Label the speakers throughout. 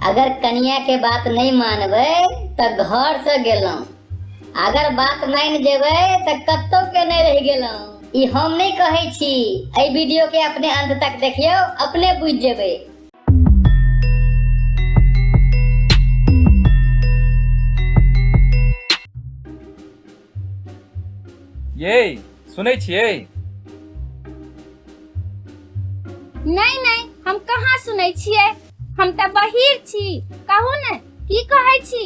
Speaker 1: अगर कनिया के बात नहीं मानबे तो घर से गेलों अगर बात मान जेबे तो कत्तो के नहीं रह गेलों ई हम नहीं कहे छी ए वीडियो के अपने अंत तक देखियो अपने बुझ जेबे ये सुनै छियै नहीं नहीं हम कहाँ सुनै छियै हम तऽ बहिर छी कहू ने की कहै छी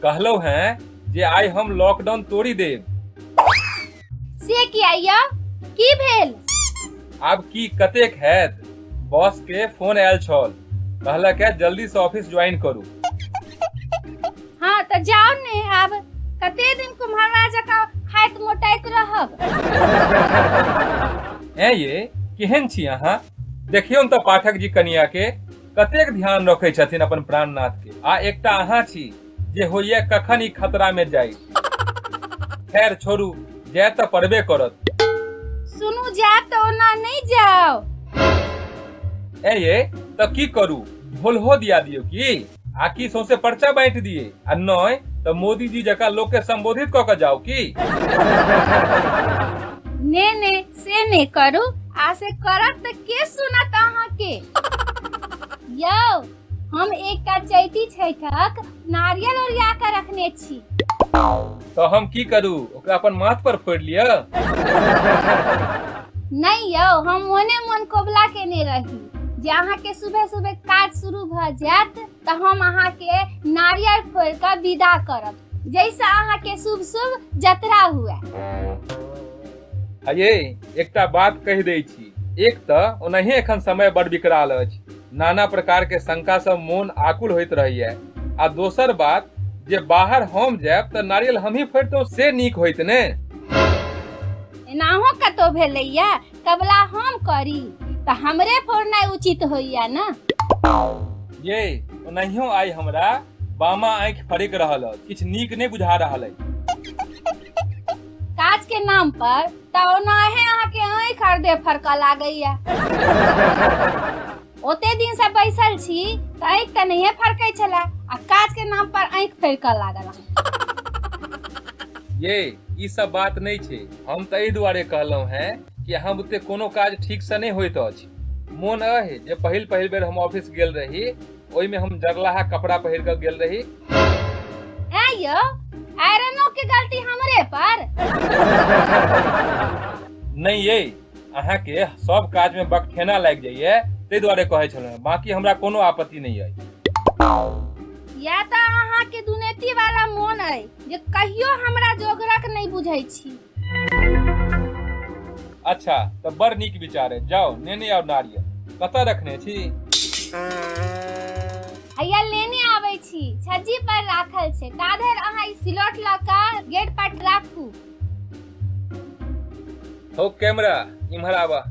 Speaker 1: कहलहुँ हैं जे आइ हम लॉकडाउन तोड़ि देब से किया यौ की भेल आब की कतेक हैत बॉस के फोन आयल छल कहलक है जल्दी से ऑफिस ज्वाइन करू हाँ तो जाओ ने आब कते दिन कुम्हरवा जकाँ खाइत मोटाइत रहब हैं ये केहन छी अहाँ देखियौन तऽ पाठक जी कनिया के कतेक ध्यान रखै छथिन अपन प्राणनाथ के आ एकटा अहाँ छी जे होइए कखन ई खतरा में जाई खैर छोड़ू जाय तऽ पड़बे करत सुनू जायब तऽ ओना नहि जाउ ए ये तऽ की करू ढोलहो दिया दियो की आकि सौंसे पर्चा बांटि दिए आ नय तऽ मोदी जी जकाँ लोक के संबोधित कऽ के जाओ की ने ने से ने करू आ से करब तऽ के सुनत अहाँके यौ हम एक टा चैती छैठक नारियल ओरिया कऽ रखने छी तऽ हम की करू ओकरा अपन माथ पर फोड़ि लिअ नहि यौ हम मोने मोन कोबला केने रही जे अहाँके सुबह सुबह काज शुरू भऽ जायत तऽ हम अहाँके नारियल फोड़ि कऽ विदा करब जैसे अहाँके शुभ शुभ जतरा हुए अये एकटा बात कहि दै छी एक तऽ ओनाहिए एखन समय बड़ विकराल अछि नाना प्रकार के शंका से मोन आकुल होइत रहैया आ दोसर बात जे बाहर हम जायब तऽ नारियल हमही फोड़तहुँ से नीक होइत ने एनाहो कतौ भेलैया कबला हम करी तऽ हमरे फोड़नाइ उचित होइया ने ये ओनाहियो आइ हमरा बामा आँखि फड़क रहल अछि किछु नीक नहि बुझा रहल अछि काज के नाम पर तऽ ओनाहे अहाँके आँखि आर देह फड़कऽ लागैया ओते दिन से बैसल छी तऽ आँखि तऽ नहिए फड़कै छलए आ काज के नाम पर आँखि फड़कऽ लागल अहाँ। ये ई सब बात नहीं छे हम तो एहि दुआरे कहलहुं हैं कि अहाँ बुते कोनो काज ठीक से नहीं होइत अछि मोन अहे जे पहिल पहिल बेर हम ऑफिस गेल रही ओहि में हम जगलाहा कपड़ा पहिर के गेल रही ए यो आयरनो के गलती हमरे पर नहीं ये अहाँ के सब काज में बकठेना लाग जाइए ताहि दुआरे कहे छलहुँ बाकी हमरा कोनो आपत्ति नहीं है या तऽ अहाँ के दुनेती वाला मोन अइ जे कहियो हमरा जोगरक नहि बुझै छी अच्छा तऽ बड़ नीक विचार है जाओ नेने आओ नारियल कतऽ रखने छी हैया लेने आबै छी छज्जी पर राखल छै ता धरि अहाँ ई सिलौट लऽ कऽ गेट पर राखू हो कैमरा इम्हर आबऽ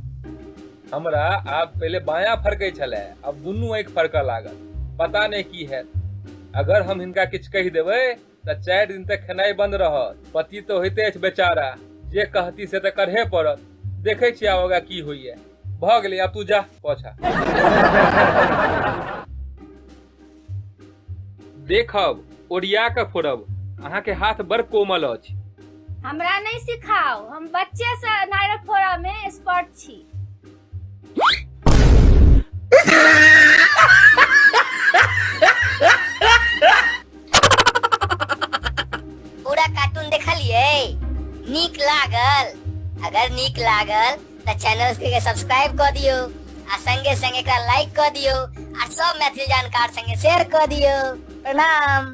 Speaker 1: हमरा आब पहिले बायां फरकै छलै आब दुनू आँखि फरकऽ लागल पता नहि की हैत अगर हम हिनका किछु कहि देबै तऽ चारि दिन तक खेनाइ बन्द रहत पति तऽ होइते अछि बेचारा जे कहती से तऽ करहे पड़त देखै छियै आब आगा की होइए भऽ गेलै आब तू जा पोछा देखब ओरिया कऽ फोड़ब अहाँके हाथ बड़ कोमल अछि हमरा नहि सिखाउ हम बच्चे से नारियल फोड़ा में एक्सपर्ट छी पूरा कार्टून देखलिए नीक लागल अगर नीक लागल तो चैनल के सब्सक्राइब कर दियो आ संगे संगे का लाइक कर दियो आ सब मैथिली जानकार संगे शेयर कर दियो प्रणाम